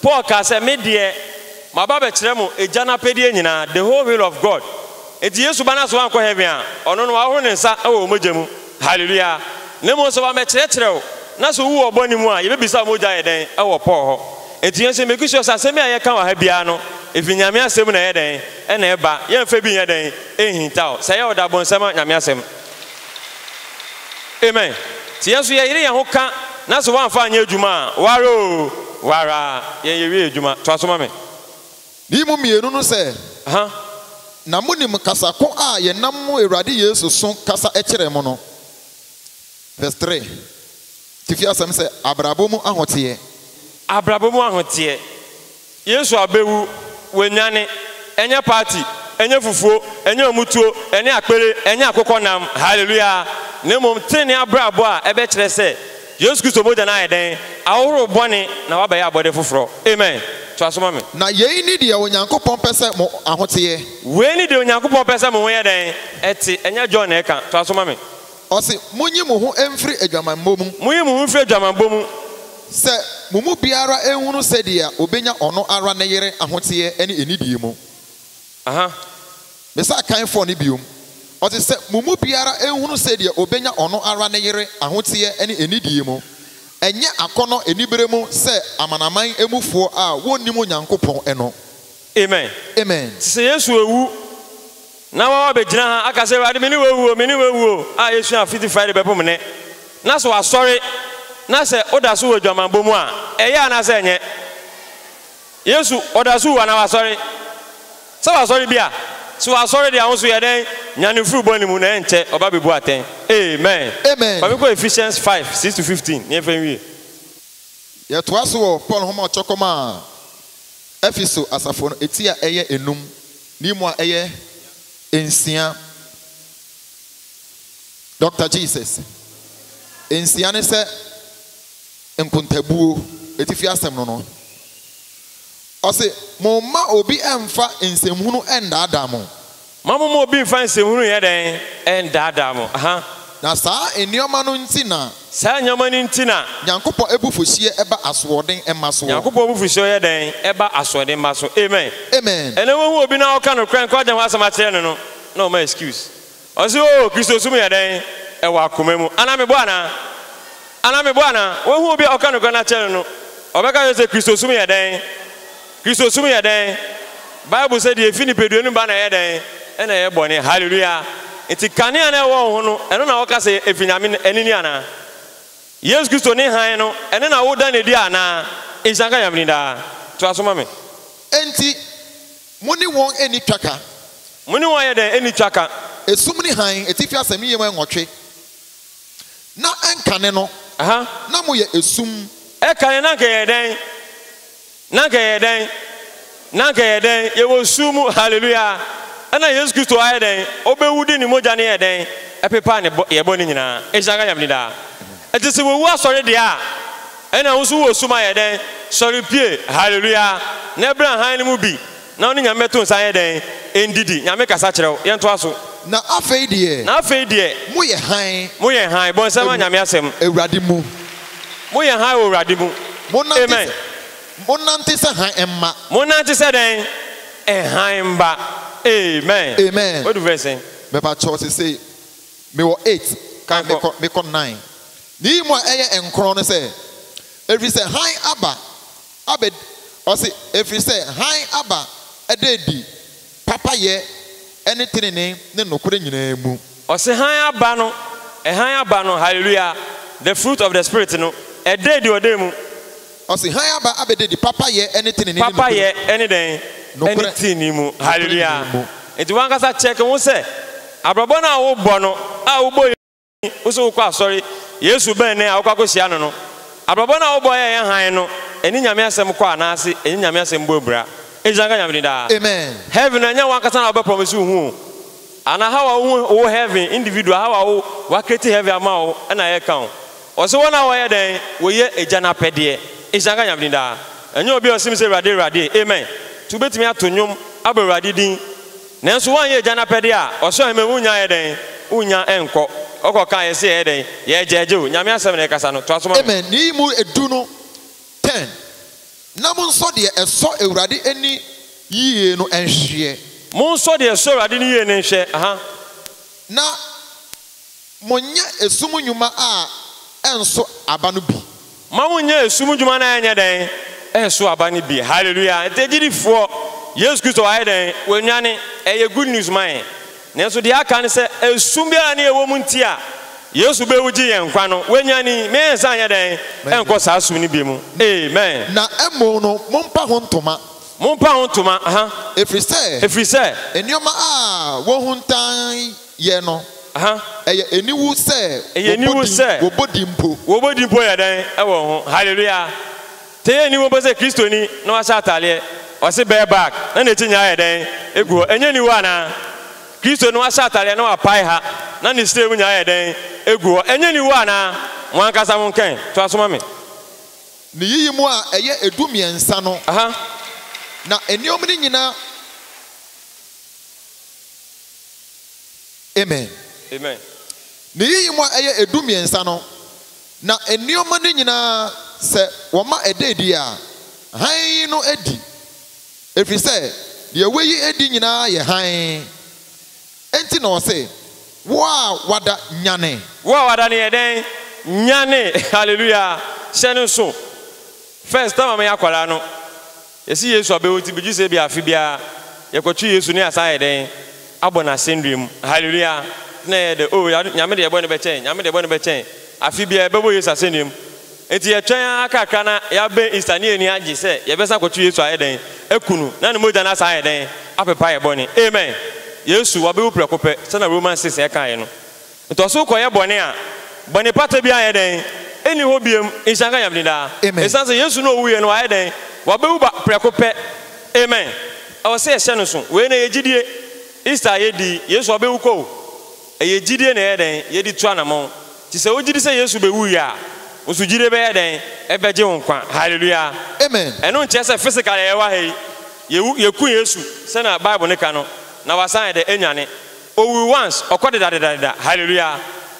Paul kaa sɛ, Me deɛ, maba abɛkyerɛ mo Agya no apɛdeɛ nyinaa, the whole will of God. Enti Yesu ba no aso ankɔ heaven a, ɔno no, wahohoro ne nsa wɔ wo mogya mu. Hallelujah! Na mmom sɛ wammɛkyerɛkyerɛ wo, na sɛ wowɔ bɔne mu a, yɛbɛbisa wo mogya yɛ dɛn wɔ Paul hɔ. Enti yɛn nso yɛmmake sure sɛ asɛm bi a yɛka wɔ ha biara no, ɛfiri Nyame asɛm mu na ɛyɛ dɛn? na ɛba. Yɛmfa bi nyɛ dɛn? nhintaw. Sɛ ɛyɛ ɔdabonsɛm a, Nyame asɛm. Amen. Nti yɛn nso yɛyere yɛn ho ka na sɛ woamfa anyɛ adwuma a, wo ara oo, wo ara. Yɛn yɛwie adwuma. Toa so ma me. Yi mo mmienu no sɛ, na monim kasa ko a yɛnam mo Awurade Yesu so kasa kyerɛɛ mo no. Vs. 3. Tifi asɛm sɛ Abrabɔ mu Ahoteɛ. Abrabɔ mu Ahoteɛ. Yesu abɛwu, wanyane. Ɛnyɛ party, ɛnyɛ fufuo, ɛnyɛ ɔmotuo, ɛne akpere, ɛnyɛ akokɔ nam, hallelujah, na mmom tenenee abrabɔ a ɛbɛkyerɛ sɛ Yesu Kristo mogya no ayɛ dɛn? Ahohoro bɔne na wabɛyɛ abɔdeɛ foforɔ. Amen. Toa so ma me. Na yei ne deɛ Onyankopɔn pɛ sɛ mo ahoteɛ. Wei ne deɛ Onyankopɔn pɛ sɛ mo ho yɛ dɛn? Ɛte. Ɛnyɛ John na ɛka. Toa so ma me. Ɔse, Monyi mo ho mfiri adwamammɔ mu. Monyi mo ho mfiri adwamammɔ mu. Sɛ mo mu biara nhunu sɛdeɛ ɔbɛnya ɔno ara ne yere ahoteɛ ne anidie mu. Aha. Mesan kan fɔɔ no biom. Ɔse, Sɛ mo mu biara nhunu sɛdeɛ ɔbɛnya ɔno ara ne yere ahoteɛ ne anidie mu. Ɛnyɛ akɔnnɔ aniberɛ mu sɛ amanaman mufoɔ a wɔnnim Onyankopɔn no. Amen. Amen. Te sɛ Yesu awu. Na wa wa bɛgyina ha aka sɛ Awurade me ne w'awu o, me ne w'awu o a yɛsua Fiti Friday bɛpom nnɛ. Na sɛ wasɔre na sɛ wo da so wɔ adwamammɔ mu a, ɛyɛ anaa sɛ ɛnyɛ? Yesu ɔda so wu anaa wasɔre? Sɛ wasɔre bi a, sɛ wasɔre deɛ ahosuo yɛ dɛn? Nyane firi bɔne mu na ɛnkyɛ ɔba bɛbu atɛn. Amen. Amen. Fami kɔ Ephesians five six to fifteen na yɛfa nwie. Yɛtoa so wɔ Paul nhoma a ɔtwerɛ kɔmaa Efeso asafo no, eti a ɛyɛ nnum. Ni mu a ɛyɛ nsia. Doctor Jesus. Nsia ne sɛ nkontabuo, atifi asɛm no no. Ɔse, Momma obi mfa nsɛmhunu nnaadaa mo. Mma momma obi mfa nsɛmhunu nyɛ dɛn? Nnaadaa mo. Aha. Na saa nneɛma no nti na. Saa nneɛma no nti na. Nyankopɔn abufuhyeɛ ba asoɔden mma soɔ. Nyankopɔn abufuhyeɛ yɛ dɛn? Ɛba asoɔden mma so. Amen. Amen. Ɛnɛ wohu obi na woka nokorɛ nka ɔgya ho asɛm akyerɛ no no, na ɔma excuse. Ɔse oo Kristosom yɛ dɛn? Ɛwɔ akoma mu. Anaa mebɔ anaa? Anaa mebɔ anaa? Wohu obi a woka nokorɛ no akyerɛ no no, ɔbɛka akyerɛ wo sɛ Kristosom yɛ dɛn? Kristosom yɛ dɛn? Bible sɛ deɛ ɛfiri nipadua no mu ba na ɛyɛ dɛn? Ɛna ɛyɛ bɔne. Hallelujah! Enti kanea no a ɛwɔ wo ho no, ɛno na woka sɛ ɛfiri Nyame ani ni anaa? Yesu Kristo ne hann no, ɛno na woda no adi anaa? Nhyira nka Nyame din daa. Toa so ma me. Enti mo ne wɔn nni twaka. Mo ne wɔn ayɛ dɛn? Nni twaka. Esum ne hann, atifi asɛm yie mu nwɔtwe. Na ɛnkane no, na moyɛ esum. Ɛkane no, na anka yɛyɛ dɛn? Na anka yɛyɛ dɛn? Na anka yɛyɛ dɛn? Yɛwɔ sum mu. Haleluya! Ɛna Yesu Kristo ayɛ dɛn? Obewu de ne mogya no yɛɛ dɛn? Ɛpepaa ne bɔ, yɛn bɔne nyinaa. Nhyira nka Nyame din daa. Enti sɛ wawu asɔre deɛ a, ɛna wo nso wowɔ sum ayɛ dɛn? Sɔre pue. Haleluya! Na bra hann no mu bi, Na wo ne Nyame bɛto nsa ayɛ dɛn? Ndidi, Nyame kasa kyerɛ wo. Yɛntoa so. Na afei deɛ. Na afei deɛ. Moyɛ hann. Moyɛ hann. Bɔ nsɛm a Nyame asɛm. Awurade mu. Moyɛ hann wɔ Awurade mu. Amen. Monante sɛ hann mma. Monante sɛ dɛn? Hann mma. Amen. Amen. Wadu verse sɛn? Mepakyɛw sesei mewɔ eight ka mekɔ mekɔ nine. Miyi mu a ɛyɛ nkron no sɛ, Efiri sɛ hann aba Abed, ɔse, Ɛfiri sɛ hann aba da adi papayɛ ne tenenee ne nokorɛ nyinaa mu. Ɔse, Hann aba no, hann aba no, Hallelujah, the fruit of the Spirit no, ɛda adi wɔ dɛn mu? Ɔse, Hann aba abɛda adi papayɛ ne tenenee ne nokorɛ. Papayɛ ne dɛn? Nokorɛ. Ne tenenee mu. Hallelujah. Nti wankasa check wo ho sɛ, abrabɔ no a wobɔ no, a wobɔ. wo se wokɔ asɔre, Yesu bɛn ne a wokɔ akɔhyia no no? Abrabɔ no a wobɔ yɛ yɛn hann no, ɛne Nyame asɛm kɔ anaase ɛnye Nyame asɛm bɔ abira? Nhyira nka Nyame din daa. Amen. Heaven no ɛnyɛ wankasa na wobɛ promise wo ho o. Ana how a wo hu wo heaven individual how a wo wa create heaven ama wo ɛna yɛ ka o. Ɔse wɔn a wɔyɛ dɛn? Wɔyɛ Agya no apɛdeɛ. Nhyira nka Nyame din daa. Ɛnyɛ obi a ɔse me sɛ Awurade Awurade. Amen. Nti wobɛtumi ato nnwom abɔ Awurade din. Nanso woanyɛ Agya no apɛdeɛ a, ɔsoro ahemman mu wonnya nyɛ dɛn? Wonnya nkɔ. Ɔkɔ kaa yɛn sɛ yɛyɛ dɛn? Yɛɛgyɛɛgye o. Nyame asɛm na ɛkasa no. Toa so ma me. Amen Nea mu du no pɛn, na monsɔ deɛ ɛsɔ Awurade ani yie no nhweɛ. Monsɔ deɛ ɛsɔ Awurade ani yie no nhwɛ, aha. Na. Monyɛ esum nnwuma a ɛnso aba no bi. Ma monyɛ esum nnwuma no a ɛnyɛ dɛn? Ɛnso aba no bi. Hallelujah! Nti agyidifoɔ, Yesu Kristo wayɛ dɛn? Wanyane. Ɛyɛ good news ma yɛn. Nanso deɛ aka ne sɛ, esum biara ne ɛwɔ mu nti a Yesu bɛwu gye yɛn nkwa no, wanyane. Me yɛn nsa nyɛ dɛn? Ɛnkɔ saa sum no bi mu. Amen. Na mmom no, mompa ho ntoma. Mompa ho ntoma, aha. Ɛfiri sɛ. Ɛfiri sɛ. Nneɛma a wɔhuntan. Yɛ no. Ɛyɛ aniwu sɛ wɔbɔ din mpo. Wɔbɔ din mpo yɛ dɛn wɔ ho? Hallelujah! Te yɛ aniwu mpo sɛ Kristoni na wahyɛ ataadeɛ, ɔse bear bag na n'akyi nyinaa yɛ dɛn gu hɔ. Ɛnyɛ aniwu anaa? Kristoni na wahyɛ ataadeɛ na wapae ha na ne srɛ mu nyinaa yɛ dɛn gu hɔ. Ɛnyɛ aniwu anaa? Mo ankasa mo nka ɛ. Toa so ma me. Ne yiyi mu a ɛyɛ ɛdu mmiɛnsa no, na nneɛma no nyinaa. Amen. Amen. Ne yiyi mu a ɛyɛ edu mmiɛnsa no, na nneɛma no nyinaa sɛ wɔma ɛda adi a, hann no adi, ɛfiri sɛ deɛ wayi adi nyinaa yɛ hann. Enti na ɔse, Wo a wada, nyane! Wo a wada no yɛ dɛn? Nyane! Hallelujah! Hyɛ no nso. First, na mama yɛ akwadaa no, Yɛse Yesu abɛwu nti bɛgye sɛ ebia afe biara yɛkɔto Yesu ne yɛasan ayɛ dɛn? Abɔ no asɛndua mu. Hallelujah! Na ɛyɛ dɛ oh Awurade Nyame deɛ bɔne bɛkyɛ yɛn, Nyame deɛ bɔne bɛkyɛ yɛn. Afe biara yɛbɛbɔ Yesu asɛndua mu. Nti yɛtwɛn ara kakra na yɛabɛn Easter ne yɛn ani agye sɛ yɛbɛsan akɔto Yesu ayɛ dɛn? Aku no na ne mogya no asan ayɛ dɛn? Apepa yɛn bɔne. Amen! Yesu wabɛwu prɛko pɛ sɛnea Romans six ɛkaeɛ no. Ntɔ so kɔyɛ bɔne a, bɔnepata biara yɛ dɛn? Enni hɔ biom. Nhyira nka Nyame din daa. Amen. Esiane sɛ Yesu na owuiɛ no, wayɛ dɛn? Wabewu ba prɛko pɛ. Amen. Ɛwɔ sɛ yɛhyɛ no so. Wei na ɛyɛ gyidie. Easter a yɛdi yi, Yesu wabewu kɔ o. Ɛyɛ gyidie na yɛyɛ dɛn? Yɛde tu anamɔn. Nti sɛ wogyidi sɛ Yesu bewuiɛ a, wo nso gyidie bɛyɛ dɛn? Ɛbɛgye wo nkwa. Hallelujah. Amen. Ɛno nkyerɛ sɛ physically yɛwɔ ha yi, yɛwu, yɛku Yesu sɛnea Bible no ka no, na wasan ayɛ dɛ? Anyane. Owu once, ɔkɔ dedadedadeda. Hallelujah!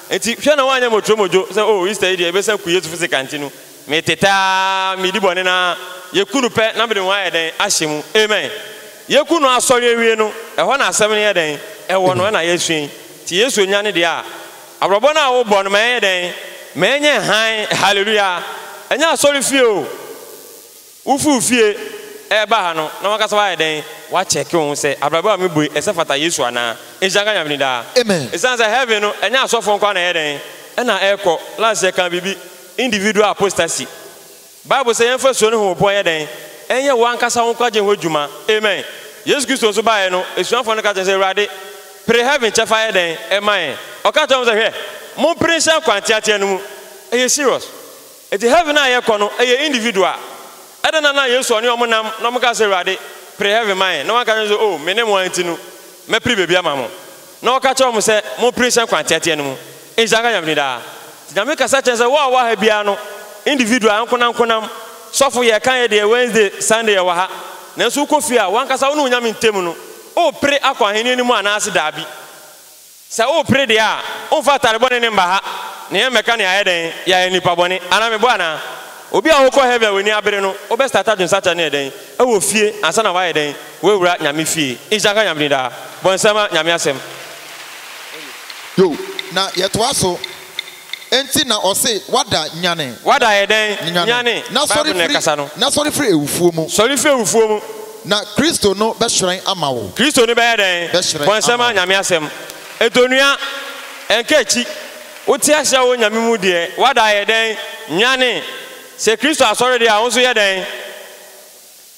Enti hwɛ na woanyɛ motromodwo sɛ, Oh, Easter yi deɛ, ɛbɛsa ku Yesufo sɛ kanti no. Metete ara, medi bɔne no ara. Yeku no pɛ na mede ho ayɛ dɛn ahyɛ mu. Amen! Yeku no asɔre awie no, ɛhɔ na asɛm no yɛ dɛn? Ɛwɔ no ɛna yɛasua yi. Nti Yesu nya ne deɛ a, abrabɔ no a wobɔ no ma ɛnyɛ dɛn? Ma ɛnyɛ hann. Hallelujah! Ɛnyɛ asɔrefie o. Wofii wo fie reba ha no, na w'ankasa woayɛ dɛn? Woakyɛke wo ho sɛ, 'Abrabɔ a mebue, ɛsɛ fata Yesu anaa? Nhyira nka Nyame din daa. Amen. Esiane sɛ heaven no, ɛnyɛ asɔfoɔ nko ara na ɛyɛ dɛn? Ɛna ɛkɔ. Last yɛkaa biribi, individual apostasy. Bible sɛ yɛmfa suro ne homopɔ nyɛ dɛn? Ɛnyɛ wo ankasa wo nkwagye ho adwuma. Amen. Yesu Kristo nso baeɛ no, asuafoɔ no ka kyerɛɛ no sɛ, Awurade, pere heaven kyɛfa yɛ dɛn? Ɛma yɛn. Ɔka kyerɛɛ wɔn sɛ, Hwɛ, mompere nhyɛ nkwa nteatea no mu. Ɛyɛ serious. Enti heaven a yɛkɔ no ɛyɛ individual. Ɛdɛn na na Yesu ɔne wɔn nam na wɔkaa sɛ Awurade pere heaven ma yɛn na wanka nkyerɛ wɔn sɛ oh mene mo ara nti no mɛpere baabi ama mo. Na ɔka kyerɛ wɔn sɛ mopere nhyɛ nkwa nteateɛ no mu. Nhyira nka Nyame din daa. Nti Nyame kasa kyerɛ sɛ wo a wowɔ ha biara no individual ankonankonam, sɔfo yɛka yɛ deɛ Wednesday, Sunday yɛwɔ ha. Nanso wokɔ fie a wankasa wo ne wo Nyame ntam no wopere akɔ ahennie no mu anaase daabi. Sɛ worepere deɛ a, womfa atade bɔne no mma ha, na yɛn mmɛka nea ayɛ dɛn, yɛayɛ nnipa bɔne, anaa mebɔ anaa? Obi a ɔrekɔ heaven a w'ani abere no, wobɛstarta dwensakra no yɛ dɛn, ɛwɔ fie, ansa na w'ayɛ dɛn, w'awura Nyame fie? Nhyira nka Nyame din daa. Bɔ nsɛmma, Nyame asɛm. Yo, na yɛtoa so. Enti na ɔse, Wada, nyane. Wada ayɛ dɛn? Nyane. Na sɔre firi. Bible na ɛkasa no. Na sɔre firi awufoɔ mu. Sɔre firi awufoɔ mu. Na Kristo no bɛhyerɛn ama wo. Kristo no bɛyɛ dɛn? Bɛhyerɛn ama wo. Bɔ nsɛm ma Nyame asɛm. Enti onua, ɛnka akyi. Wote aseɛ a wowɔ Nyame mu deɛ, wada ayɛ dɛn? Nyane. Sɛ Kristo asɔre deɛ a, wo nso yɛ dɛn?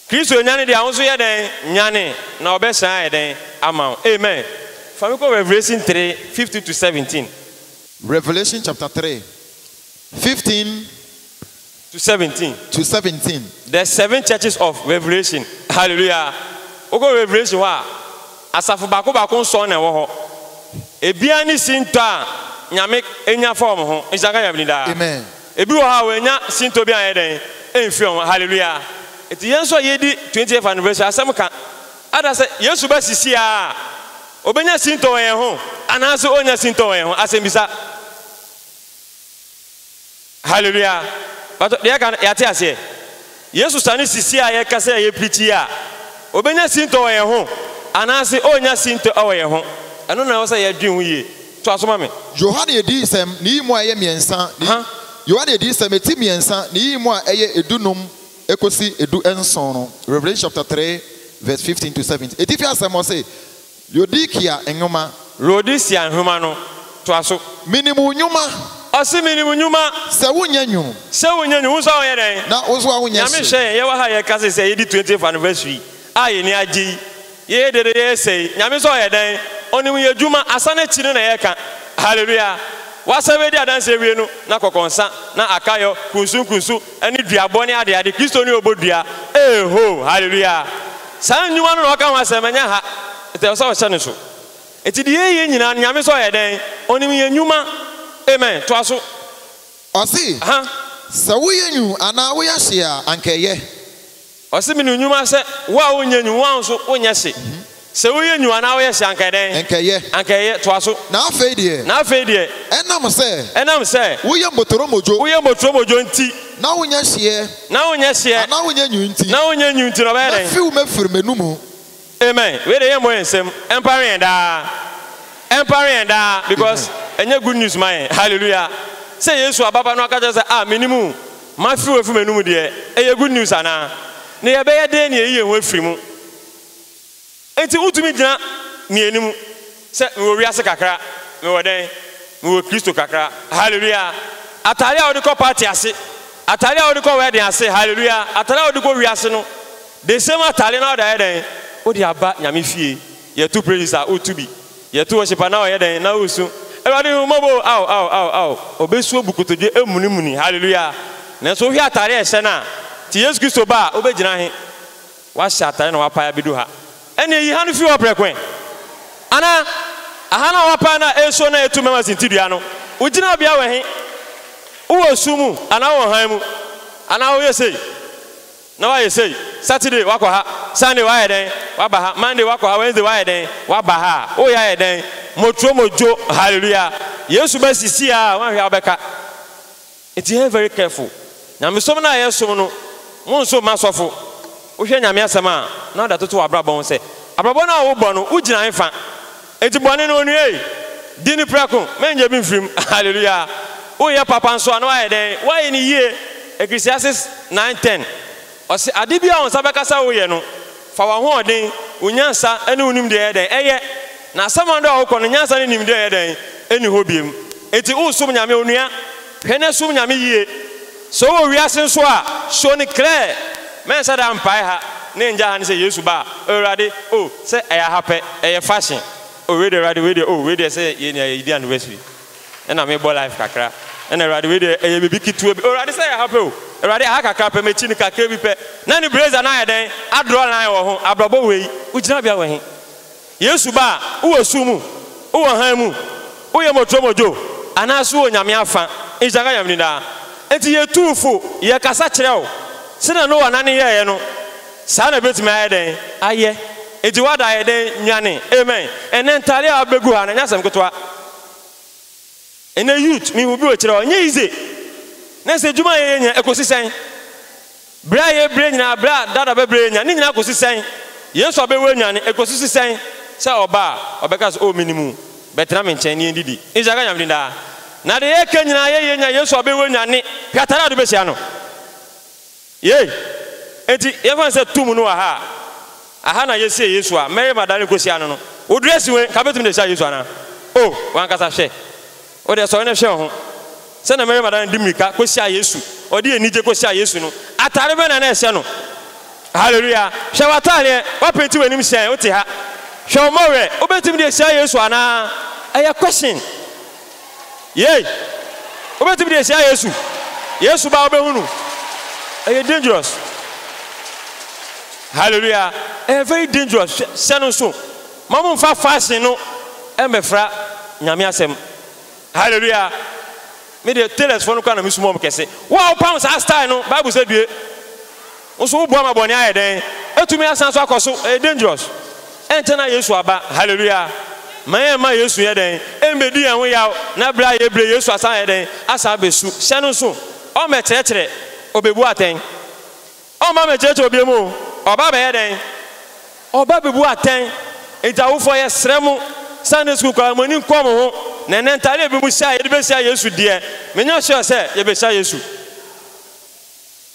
Kristo anyane deɛ a, wo nso yɛ dɛn? Nyane, na ɔbɛhyerɛn ayɛ dɛn? Ama wo. Amen. Fa me kɔ Revelation 3, 15 to 17. Revelation chapter three, fifteen To seventeen. to seventeen. The Seven Churches of Revelation, Hallelujah! Wokɔ Revelation hɔ a, asafo baako baako nsɔn na ɛwɔ hɔ. Ebiara ne sintɔ a Nyame anya fa wɔn ho. Nhyira nka Nyame din daa. Amen. Ebi wɔ hɔ a wɔannya sintɔ biara anyɛ dɛn amfi wɔn ho. Hallelujah! Enti yɛn nso a yɛredi 20th anniversary, asɛm ka. Ada sɛ Yesu ba sisi ara a, obenya sintɔ wɔ yɛn ho anaasɛ orennya sintɔ wɔ yɛn ho? Asɛmmisa. Hallelujah! Mpakyɛ, deɛ yɛka no, yɛate aseɛ? Yesu sane sisi a yɛka sɛ yɛpirikyi yi a, obenya sintɔ wɔ yɛn ho anaasɛ orennya sintɔ wɔ yɛn ho? Ɛno na ɛwɔ sɛ yɛdwen ho yie. Toa so ma me. Yohane Adiyisɛm ne yi mu a ɛyɛ mmiɛnsa ne yi. Yohane Adiyisɛm, ɛti mmiɛnsa ne yi mu a ɛyɛ dunum kosi du nson no, Revelation chapter three verse fifteen to seventeen, Etifi asɛm ɔse, Laodikea nwoma. Laodicea nwoma no, toa so. Minim wo nwuma. Ɔse minim wo nwuma. Sɛ wo nyɛ nwunu. Sɛ wo nyɛ nwunu, wo nso a wo yɛ dɛn. Na wo nso a wo nyɛ hye. Nyame nhyɛ yɛn, yɛwɔ ha a yɛkase sɛ yɛdi twentieth anniversary A yɛn ani agye yi, yɛyɛ dede yɛresɛ yi, Nyame nso ɔyɛ dɛn? Ɔnim yɛn adwuma, asa no akyi no na yɛreka. Hallelujah! W'asɛm adi adanse awie no, na kɔkɔnsa, na akayɔ, kunsunkunsu, ne duabɔ ne adeade, Kristo ne ɔbɔ dua. Eehoo! Hallelujah! Saa nnwuma no na ɔka ho asɛm, ɛnyɛ ha, nti ɛwɔ sɛ ɔhyɛ no nso. Nti deɛ yɛyɛ nyinaa no, Nyame nso ɔyɛ dɛn? Ɔnim yɛn nnwuma. Amen! Toa so. Ɔse, Aha. Sɛ woyɛ nwu anaa woyɛ hye a, anka ɛyɛ. Ɔse mene nwuma sɛ wo a wonyɛ nwu wo a nso wonyɛ hye sɛ woyɛ nwu anaa woyɛ hye anka ɛdɛn? Anka ɛyɛ. Anka ɛyɛ. Toa so. Na afei deɛ. Na afei deɛ. Ɛnam sɛ. Ɛnam sɛ. Woyɛ mbotoromodwo. Woyɛ mbotoromodwo nti. Na wonyɛ hyeɛ. Na wonyɛ hyeɛ. Anaa wonyɛ nwu nti. Na wonyɛ nwu nti na ɔbɛyɛ dɛn? Mɛfiw mɛfiri m'anumu. Amen wei deɛ yɛmmɔ yɛn nsam ɛmpare yɛn daa ɛmpare yɛn daa because ɛnyɛ good news ma yɛn hallelujah sɛ Yesu aba ba na waka kyerɛ sɛ ah menim wo mafe wo afi m'anum deɛ ɛyɛ good news anaa na yɛbɛyɛ dɛn na yɛyi yɛn ho afiri mu nti wotumi gyina mmieni mu. Sɛ mewɔ wiase kakra, mewɔ dɛn? Mewɔ Kristo kakra. Hallelujah! Atade a wode kɔ party ase, atade a wode kɔ wedding ase, hallelujah, atade a wode kɔ wiase no, the same atade na wode ayɛ dɛn? Wode aba Nyame fie. Yɛto praises a, woto bi. Yɛto worship a, na woyɛ dɛn? Na wosu, Awurade hu me mmɔbɔ o, ao, ao, ao, ao. Obesu abu kotodwe amunimuni, hallelujah. Nanso wohwɛ atade a ɛhyɛ no a, te Yesu Kristo ba a, wobegyina he? Woahyɛ atade na woapae abedu ha. Ɛnneɛ yi ha no firi hɔ prɛko ɛ! Anaa, aha no a woapae no a ɛresuo na ɛretu mɛma sinte dua no, wo gyinabea wɔ he? Wowɔ esum mu anaa wowɔ hann mu? Anaa woyɛ sei, na woayɛ sei, Saturday woakɔ ha, Sunday woayɛ dɛn, woaba ha, Monday woakɔ ha, Wednesday woayɛ dɛn, woaba ha a, woreyɛ ayɛ dɛn? Motro modwo, Hallelujah! Yesu bɛsisi a, woanhwɛ a wobɛka. Nti yɛnyɛ very careful. Nyamesom no a yɛsom no, monso mma sɔfo. Wohwɛ Nyame asɛm a, na ɔde atoto w'abrabɔ ho sɛ, Abrabɔ no a wobɔ no, wogyina hefa? Nti bɔne no onua ei, di no prɛko, mɛnyɛ bi mfirim. Hallelujah! Woyɛ papa nso a, na woayɛ dɛn? Woayɛ no yie. Ecclesiastes nine ten, ɔse, Ade biara a wo nsa bɛka sɛ woyɛ no, Fa w'ahoɔden, wo nyansa ne wo nimdeɛ yɛ dɛn? Ɛyɛ. Na asaman do a wokɔ no, nyansa ne nimdeɛ yɛ dɛn? Enni hɔ biom. Enti woresom Nyame, onua, hwɛ na som Nyame yie. Sɛ wowɔ wiase nso a, show no clear. Mɛnsa da mpae ha ne ngya ha ne sɛ Yesu ba a, Awurade, oh, sɛ ɛyɛ aha pɛ, ɛyɛ fashion, oh, wei deɛ, Awurade, wei deɛ, oh, wei deɛ sɛ yɛ nea yɛdi anniversary. Ɛna mebɔ life kakra. Ɛna Awurade wei deɛ ɛyɛ biribi ketewa bi. Awurade sɛ ɛyɛ ha pɛ o. Awurade aha kakra pɛ m'akyi no kakra bi pɛ. Na ne blazer no ayɛ dɛn? Adraw line wɔ ho. Abrabɔ wei. Wo gyinabea wɔ he? Yesu ba a, wowɔ sum mu? Wowɔ hann mu? Woyɛ motromodwo? Anaase wowɔ Nyame afa? Nhyira nka Nyame din daa. Enti yɛtu wo fo, yɛkasa kyerɛ wo. Sɛnea Noa nane yɛeɛ no, saa na ɛbɛtumi ayɛ dɛn? Ayɛ. Enti w'ada ayɛ dɛn? Nwane. Amen. Ɛnnɛ ntaadeɛ a wobɛgu ha no, ɛnyɛ asɛm ketewa. Ɛnɛ youth mehu bi wɔ akyire hɔ ɛnyɛ easy na sɛ adwuma a yɛyɛ nyinaa ɛkɔsi sɛn? Brɛ a yɛbrɛ nyinaa brɛ a dada bɛbrɛ yɛn nyinaa ne nyinaa kɔsi sɛn? Yɛn nso abɛwu anyane ɛkɔsi si sɛn? Sɛ ɔba a ɔbɛka sɛ oh menim wo bɛtena me nkyɛn na yɛndidi nhyira nka Nyame din daa na deɛ yɛka nyinaa yɛyɛ nyinaa yɛn nso abɛwu anyane hwɛ atare a wode bɛhyia no. Yei enti yɛmfa no sɛ tum no wɔ ha a, aha na yɛsiee Yesu a Mary Magdalene kɔsiaa no no. Wo dressing wei, nka bɛtumi de asiaa Yesu anaa? O, w'ankasa hwɛ! Wo deɛ sɔre na hwɛ wo ho. Sɛdeɛ Mary Magdalene de mmirika kɔsiaa Yesu, ɔde anigye kɔsiaa Yesu no, atadeɛ bɛn na na ɛsɛ no? Hallelujah! Hwɛ w'atadeɛ, woapenti w'anim sɛn, wote ha. Hwɛ wo mmɔwerɛ, wobɛtumi de asiaa Yesu anaa? Ɛyɛ question. Yei! Wobɛtumi de ahyia Yesu. Yesu ba wobɛhu no. Ɛyɛ dangerous. Hallelujah. Ɛyɛ very dangerous. Hyɛ no nso. Ma mo nfa fashion no ɛmbɛfra nyame asɛm. Hallelujah. Me deɛ tailors foɔ no koraa na mesuma wɔn kɛse. Wo a wopam saa style no, Bible sɛ due. Wo nso woboa ma bɔne ayɛ dɛn? Atumi asan so akɔ so. Ɛyɛ dangerous. Ɛnkyɛ na Yesu aba. Hallelujah! Ma yɛn mma Yesu nyɛ dɛn? Ɛmmɛdi yɛn ho yaw, na bere a yɛbrɛ Yesu asan ayɛ dɛn? Asan abɛsu. Hyɛ no nso. Ɔmmɛkyerɛkyerɛ. Ɔbɛbu atɛn. Ɔmma mmɛkyerɛkyerɛ obiam o. Ɔba abɛyɛ dɛn? Ɔba abɛbu atɛn. Enti awofoɔ yɛsrɛ mo, Sunday school koraa mo ani nkɔ mo ho, na ɛnnɛ ntadeɛ a ɛbi mo hyɛ a yɛde bɛhyia Yesu deɛ, menya sure sɛ yɛbɛhyia Yesu.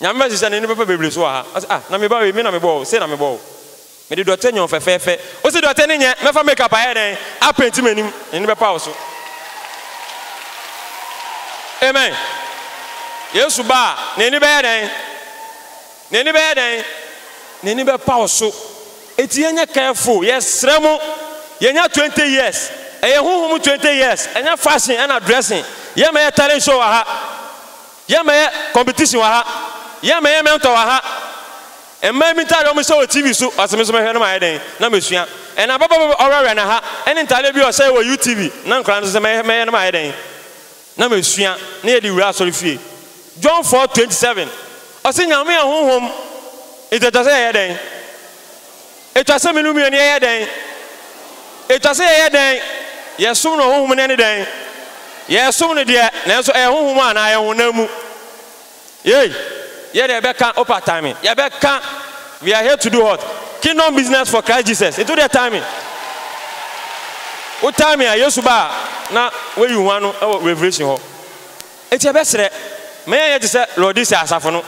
Nyame bɛhyehyɛ n'ani bɛfa bebree so wɔ ha. Ɔse ah, na meba wei, me na mebɔɔ wo, sei na mebɔɔ wo. Mede dɔte nyɛ wo fɛfɛɛfɛ. Wose dɔte ne nyɛ, mɛfa makeup ayɛ dɛn apenti m'anim, n'ani bɛpa wo so. Amen. Yesu ba a, n'ani bɛyɛ dɛn? N'ani bɛyɛ dɛn? N'ani bɛpa wo so. Enti yɛnyɛ careful, yɛsrɛ mo. Yɛnya 20 years. Ɛyɛ honhom mu 20 years, ɛnyɛ fashion ɛna dressing. Yɛmɛyɛ talent show wɔ ha. Yɛ ma yɛ competition wɔ ha. Yɛ ma yɛ mentor wɔ ha. Mmaa bi ntaadeɛ a wɔhyɛ wɔ TV so, ɔse me nso mɛhwɛ na mayɛ dɛn? Na masua. Ɛna ababaa bi a ɔwerɛwerɛ na ha, ɛne ntaadeɛ bi a ɔhyɛɛ wɔ UTV, na nkwadaa no nso sɛ mɛyɛ na mayɛ dɛn? Na masua. Na yɛde wura asɔre fie. John four twenty seven, ɔse Nyame yɛ Honhom, nti ɛtɔ sɛ yɛyɛ dɛn? Etwa sɛ me no mmienu yɛyɛ dɛn? Etwa sɛ yɛyɛ dɛn? Yɛsom no honhom mu na ɛne dɛn? Yɛsom no deɛ, nanso ɛyɛ honhom mu anaa ɛyɛ honam mu? Yei, yɛ deɛ yɛbɛka, Opa tan me, yɛbɛka, We are here to do what? Kingdom business for Christ Jesus, nti wo deɛ tan me, wo tan me a, Yesu ba a, na woayi wo ho ano wɔ Revelation hɔ. Enti yɛbɛsrɛ, ma yɛnyɛ te sɛ Laodicea asafo no.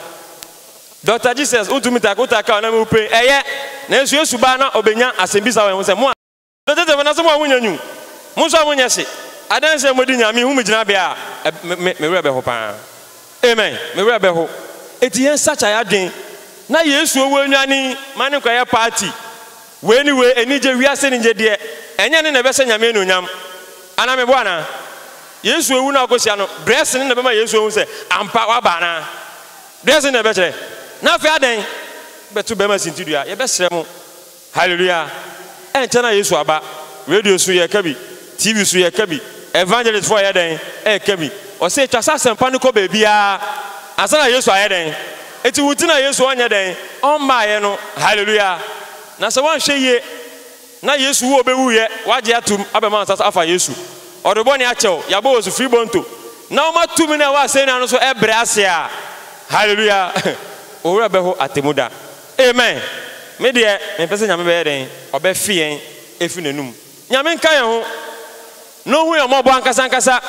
Doctor Jesus wo ntumi tak wo tak a ɔnam wo pain ɛyɛ nanso yesu baa na ɔbɛnya asɛmbisa wɔ yɛn ho sɛ mo a. Doctor Jesus nanso mo a mo nya nyu mo nso a mo nyɛ hye adanse a mo di nyinaa me hu mo gyina bea a me me me werɛ bɛho paa amen me werɛ bɛho enti yɛn sakya yɛ adwen na yesu ɔwɔ anuane yi ma ne nkwa yɛ party wei ne wei anigye wiase anigye deɛ ɛnyɛ ne na ɛbɛhyɛ nyame anuonyam anaa me bo anaa yesu awu na ɔkɔ hyia no brɛs ne na ɛbɛma yesu ahu sɛ ampa waba anaa Wiase na ɛbɛkyerɛ. Na afei adɛn? Bɛto bɛrima sintidua, yɛbɛsrɛ mo. Hallelujah! Ɛnkyɛ na Yesu aba. Radio so yɛreka bi, TV so yɛreka bi, evangelist foɔ yɛ dɛn? Ɛreka bi. Ɔse twa sɛ asɛmpa no kɔ baabiara ansa na Yesu ayɛ dɛn? Enti wo nti na Yesu ɔnyɛ dɛn? Ɔmmaeɛ no. Hallelujah! Na sɛ woanhwɛ yie. Na Yesu wu obewu yɛ wagye atum abɛma wɔn nsa so afa Yesu ɔde bɔne akyɛ wo yabɔ wɔ su firi bɔnto na woma tumi no a ɛwɔ asɛnnua no so ɛbrɛ ase a Hallelujah wo werɛ bɛho atemu da Amen me deɛ mempɛ sɛ Nyame bɛyɛ dɛn ɔbɛfe yɛn ɛfiri nanum Nyame nka yɛn ho Na ohui ahummɔbɔ ankasa ankasa,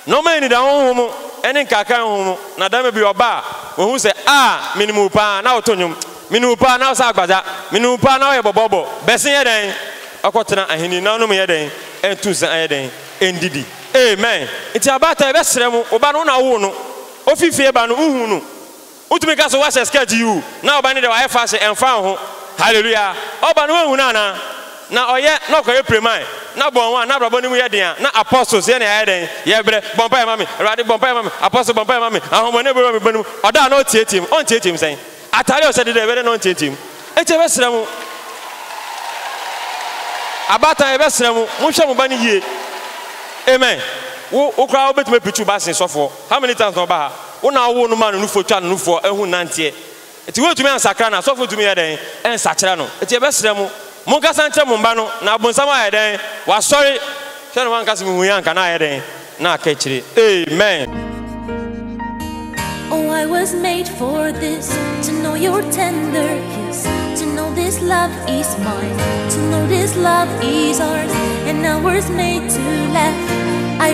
na ɔma anida honhom mu ne nkaakae honhom mu, na dɛm bi ɔba a, ohu sɛ, Ah, minim wo paa, na woto nnwom, minim wo paa, na wosɛ agbadza, minim wo paa, na woyɛ bɔbɔɔbɔ, bɛsen yɛ dɛn kɔtsena ahenni na ɔno mu yɛ dɛn nto nsa nyɛ dɛn ndidi. Amen. Ntsi abaatan, yɛbɛserɛ mo, wo ba no, wo na wowoo no, ofi fie ba no, wohun no. Wotumi ka so woahyɛ skirt yiw, na ɔba no deɛ wayɛ fashion, ɛmfa wo ho. Hallelujah! Ɔba no woanhu no anaa? Na ɔyɛ, na ɔkɔyɛ piraman, na bɔn one, na abrabɔ no mu yɛ den a, na apostles yɛ nea yɛayɛ dɛn? Yɛbrɛ, bɔ mpaeɛ ma me, Awurade, bɔ mpaeɛ ma me, apostle, bɔ mpaeɛ ma me, ahonhommɔne bɔ wura me bɔne mu, ɔda a na ɔteateam, ɔnteateam sɛn? Atade a ɔhyɛ deda yɛbɛyɛ dɛn na ɔnteateam? Enti yɛbɛsrɛ mo, abaatan yɛbɛsrɛ mo, monhwɛ mo ba no yie, amen, wo wo koraa wobɛtumi apirikyi wo ba asen sɔfoɔ. How many times na ɔba ha? Wo na wowoo no maa no nufoɔ twa no nufoɔ ɛho nnanteɛ nti wontumi ansakra no asɔfo ntumi nyɛ dɛn nsakyera no nti yɛbɛsrɛ mo monkasa nkyerɛ mo mma no na abonsam ayɛ dɛn wasɔre hwɛ no wanka sɛ mehuiɛ anka na ayɛ dɛn na aka akyire amen. Oh I was made for this to know your tender kiss to know this love is mine to know this love is ours and I was made to laugh.